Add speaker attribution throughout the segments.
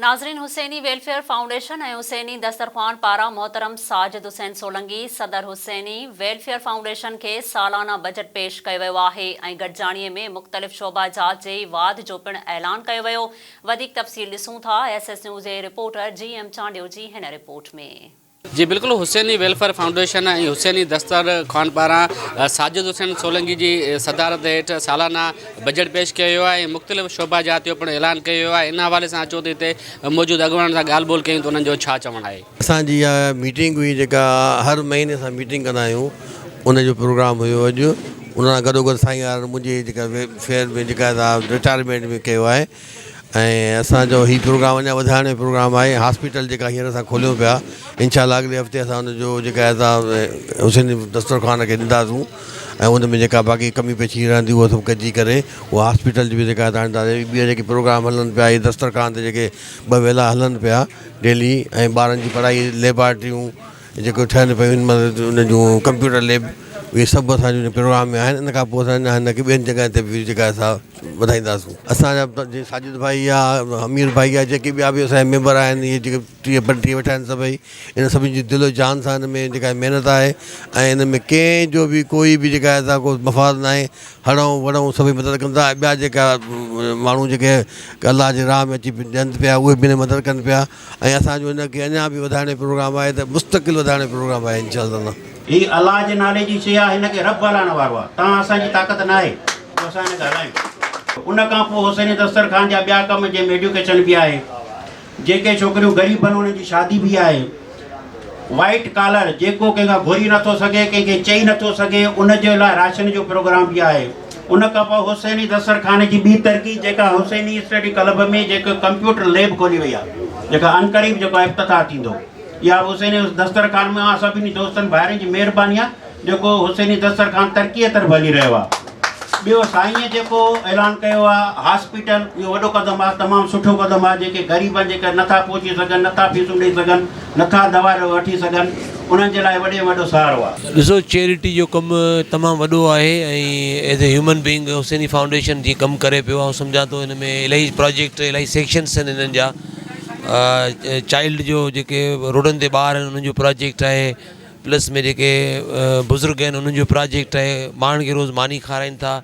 Speaker 1: ناظرين Husaini welfare foundation ۽ Husaini دسترخوان پاران محترم ساجد حسين سولنگي صدر حسيني ويلفيئر فائونڊيشن کي سالانه بجٽ پيش ڪيو ويو آهي ۽ گڏجاڻي ۾ مختلف شعبه جات جي واڌ جو پڻ اعلان ڪيو ويو وڌيڪ تفصيل ڏسون ٿا ايس ايس نيوز جي رپورٽر جي ايم چانڊيو جي هن رپورٽ ۾. جي بلڪل
Speaker 2: حسيني ويلفيئر فائونڊيشن ۽ حسيني دستر خان پاران ساجد حسين سولنگي جي صدارت هيٺ سالانه بجيٽ پيش ڪيو ويو آهي ۽ مختلف شعبا جات جو پڻ اعلان ڪيو ويو آهي ان حوالي سان اچو ته هتي موجود اڳواڻن سان ڳالهه ٻولهه ڪيون ته انهن جو ڇا چوڻ آهي. اسان جي اها ميٽنگ
Speaker 3: هئي جيڪا هر مهيني اسان ميٽنگ ڪندا آهيون ان جو پروگرام هيو اڄ ان سان گڏو گڏ سائين يار منهنجي جيڪا ويلفيئر ۾ جيڪا رٽائرمينٽ ۾ ڪيو آهي ۽ اسان جو هي پروگرام اڃان وڌائڻ جو پروگرام آهي هاسپيٽل جيڪا هينئر اسان کوليون پيا انشاء الله اڳلي هفتي اسان ان جو جيڪا آهي سا حسين دسترخوان کي ڏنداسون ۽ ان ۾ جيڪا باقي ڪمي پيشي رهندي هو سڀ گڏجي ڪري هو هاسپيٽل جي بي جيڪا آهي سا ٻيا جيڪي پروگرام هلن پيا هي دسترخوان تي جيڪي ٻه ويلا هلن پيا ڊيلي ۽ ٻارن جي پڙهائي ليبارٽريون جيڪي ٺهن پيون ان مهل ان جون ڪمپيوٽر ليب اهي سڀ اسان جون پروگرام ۾ آهن ان کان پوء اسان هن کي ٻين جڳهن تي به جيڪا سا وڌائينداسون اسانجا جي ساجد ڀائي يا امير ڀائي يا جيڪي ٻيا به اسانجا ميمبر آهن اهي جيڪي ٽيهه پنجٽيهه ويٺا آهن سڀئي ان سڀني جي دل جان سان ان ۾ جيڪا محنت آهي ۽ ان ۾ ڪنهن جو بي ڪوئي بي جيڪا اسان ڪو مفاد نه آهي هڙئون وڙئون سڀئي مدد ڪن ٿا ٻيا جيڪا ماڻهو جيڪي الله جي راهه ۾ اچي ڏين پيا اهي به مدد ڪن پيا ۽ اسان جو ان کي اڃا به وڌائڻ جو پروگرام آهي ته مستقل وڌائڻ جو پروگرام آهي انشاء الله. هي الله جي
Speaker 4: نالي جي شيء آهي هن کي رب هلائڻ وارو آهي تان اسان جي طاقت ناهي جو اسان هن کي هلايون. ان کان پوء حسين دستر خان جا ٻيا ڪم جنهن ۾ ايڊيوڪيشن به آهي جيڪي ڇوڪريون غريب بن انهن جي شادي به آهي وائيٽ ڪالر جيڪو ڪنهن کان گهري نٿو سگهي ڪنهن کي چئي نٿو سگهي ان جي لاء راشن جو پروگرام به آهي. ان کان پوء حسيني دسترخوان جي ٻي ترقي جيڪا حسيني اسٽڊي ڪلب ۾ جيڪو ڪمپيوٽر ليب کولي وئي آهي جيڪا عنقريب جيڪو افتتاح ٿيندو اها به حسيني دسترخوان مان سڀني دوستن ڀائرن جي مهرباني آهي جيڪو حسيني دسترخوان ترقيء طرف هلي رهيو آهي ٻيو سائينء جيڪو اعلان ڪيو آهي هاسپيٽل اهو وڏو قدم آهي تمام سٺو قدم آهي جيڪي غريب جيڪي نٿا پهچي سگهن نٿا فيسون ڏئي سگهن نٿا دوا وٺي سگهن انهن جي لاء وڏي ۾ وڏو سهارو آ. ڏسو چيريٽي جو
Speaker 5: ڪم تمام وڏو آهي ۽ as a human being Husaini foundation جي ڪم ڪري پيو آئون سمجهان ٿو ان ۾ الائي پراجيڪٽ الائي سيڪشنس آهن انهن جا چائلڊ جو جيڪي روڊن تي ٻار آهن انهن جو پراجيڪٽ آهي پلس ۾ جيڪي بزرگ آهن انهن جو پراجيڪٽ آهي ٻارن کي روز ماني کارائن ٿا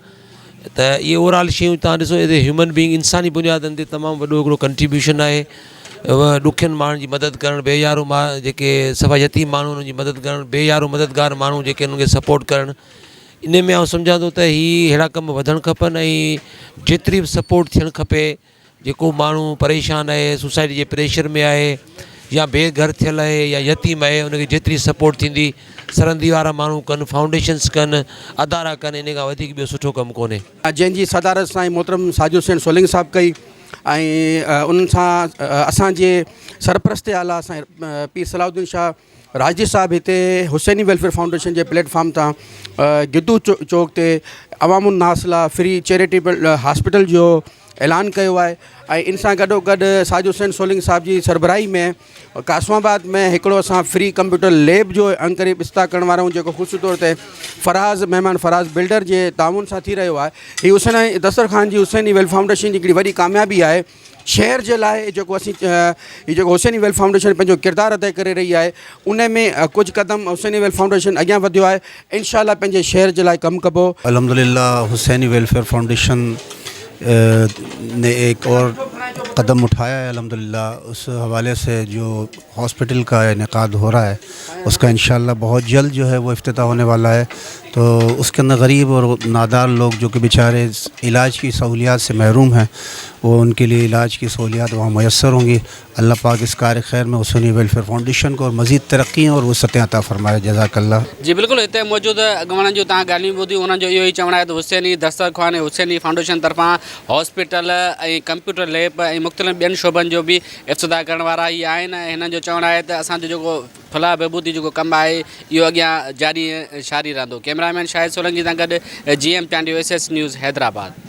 Speaker 5: ته اهي اوور آل شيون تان ڏسو ايز اي هيومن بينگ انساني بنيادن تي تمام وڏو هڪڙو ڪنٽريبيوشن آهي ڏکين ماڻهن جي مدد ڪرڻ بي يارو ما جيڪي سفا يتيم ماڻهو انهن جي مدد ڪرڻ بي يارو مددگار ماڻهو جيڪي انهن کي سپورٽ ڪرڻ ان ۾ آئون سمجهان ٿو ته هي اهڙا ڪم وڌڻ کپن ۽ جيتري بھ سپورٽ ٿيڻ کپي جيڪو ماڻهو پريشان آهي سوسائٽي جي پريشر ۾ آهي يا بي گهر ٿيل آهي يا يتيم آهي ان کي جيتري سپورٽ ٿيندي سرندي وارا ماڻهو ڪن فائونڊيشنس ڪن ادارا ڪن ان کان وڌيڪ ٻيو سٺو ڪم ڪونهي جنهن جي صدارت
Speaker 6: سائين محترم ساجد حسين سولنگي صاحب ڪئي ۽ انهن سان اسان جي سرپرست اعليٰ سائين پير صلاح الدين شاهه راشدي صاحب هتي حسيني ويلفيئر فائونڊيشن جي پليٽ فارم تان گدو چوڪ تي عوام الناس لا فري چيريٽيبل هاسپيٽل جو اعلان ڪيو آهي ۽ ان سان گڏو گڏ ساجد حسين سولنگ صاحب جي سربراهي ۾ قاسم آباد ۾ هڪڙو اسان فري ڪمپيوٽر ليب جو انڪري استاد ڪرڻ وارا آهيون جيڪو خصوصي طور تي فراز مهمان فراز بلڊر جي تعاون سان ٿي رهيو آهي هي حسين دسترخوان جي حسيني ويلفيئر فائونڊيشن جي هڪڙي وڏي ڪاميابي آهي شهر جي لاء جيڪو اسين هي جيڪو حسين ويلفيئر فائونڊيشن پنهنجو ڪردار ادا ڪري رهي آهي ان ۾ ڪجهه قدم حسين ويلفيئر فائونڊيشن اڳيان وڌيو آهي انشاء الله پنهنجي شهر جي لاء ڪم ڪبو الحمد لله
Speaker 7: حسين ويلفيئر فائونڊيشن ني ايڪ اور قدم اٺايا هي الحمد لله اس حوالي سي جو هاسپيٽل ڪا انعقاد هو رها هي اس ڪا انشاء الله بهت جلد جو هي وو افتتاح هوني والا هي تو اس ڪي اندر غريب اور نادار لوگ جو ڪي بيچاري علاج ڪي سهوليات سي محروم هين وو ان ڪي لئي علاج ڪي سهوليات وهان ميسر هونگي الله پاڪ اس ڪار خير مي حسوني ويلفيئر فائونڊيشن ڪو اور مزيد ترقي اور وسعتين عطا فرمائي جزاڪ الله. جي بلڪل هتي
Speaker 2: موجود اڳواڻن جون توهان ڳالهيون ٻڌيون انهن جو اهو ئي چوڻ آهي ته حسيني دسترخوان ۽ حسيني فائونڊيشن طرفان هاسپيٽل ۽ ڪمپيوٽر ليب ۽ مختلف ٻين شعبن جو به افتتاح ڪرڻ وارا ئي آهن ۽ هنن جو چوڻ آهي ته اسان جو جيڪو فلاح بهبودي جو جيڪو ڪم آهي اهو اڳيان جاري ۽ ساري رهندو ڪيمرا مين شاهد سولنگي سان گڏ G M Chandio S S news Hyderabad.